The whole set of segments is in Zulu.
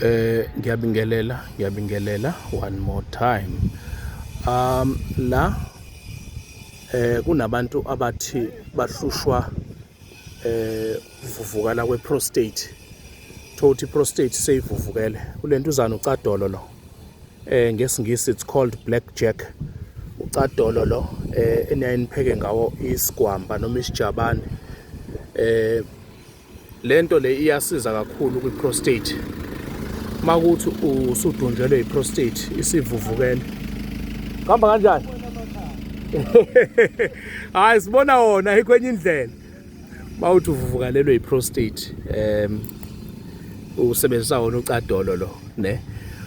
Eh ngiyabingelela ngiyabingelela one more time. Um la eh kunabantu abathi bahlushwa eh uvuvukala kwe prostate. Thothi prostate seyivuvukele. Kulento uzana ucadolo lo. Eh ngesingisi it's called black jack. Ucadolo lo eh eniyayinipheke ngawo isigwamba noma isijabane. Eh Lento le iyasiza kakhulu kwi prostate. Makuthi usudunjelwe i prostate isivuvukele. Kamba kanjani? Hayi sibona wona ikwenye indlela. Bawuthi uvuvukalelwe i prostate em usebenzisa wona ucadolo lo, ne?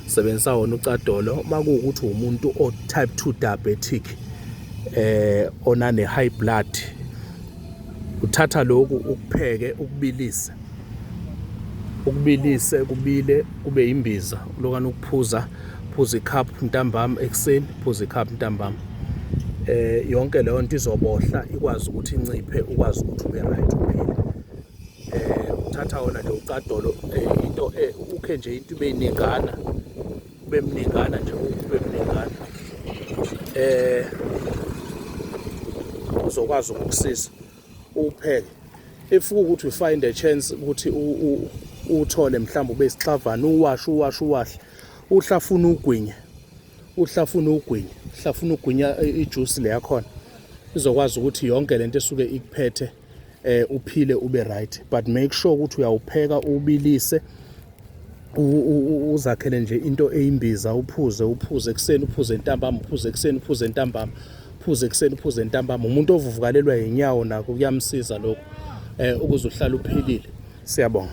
Usebenzisa wona ucadolo makuwukuthi umuntu o type 2 diabetic eh onane high blood Uthatha lokhu ukupheke ukubilise ukubilise kubile kube imbiza ulokana ukuphuza phuza icup ntambama ekuseni phuza icup ntambama eh yonke leyo nto izobohla ikwazi ukuthi inciphe ukwazi ukuthi ube right uphile eh uthatha wona nje ucadolo eh, into eh, ukhe nje into ibe iningana kube mningana nje kube mningana eh uzokwazi ukukusiza upheke if ukuthi find a chance ukuthi uthole mhlawumbe ube isixavana uwashe uwashe uwahle uhlafuna ugwinye uhlafuna ugwinye uhlafuna ugwinya ijuice le yakhona izokwazi ukuthi yonke lento esuke ikuphethe eh uphile ube right but make sure ukuthi uyawupheka ubilise uzakhele nje into eyimbiza uphuze uphuze ekuseni uphuze entambama uphuze ekuseni uphuze entambama uphuze ekuseni uphuze entambama umuntu ovuvukalelwa yinyawo nako kuyamsiza lokho eh ukuze uhlale uphilile siyabonga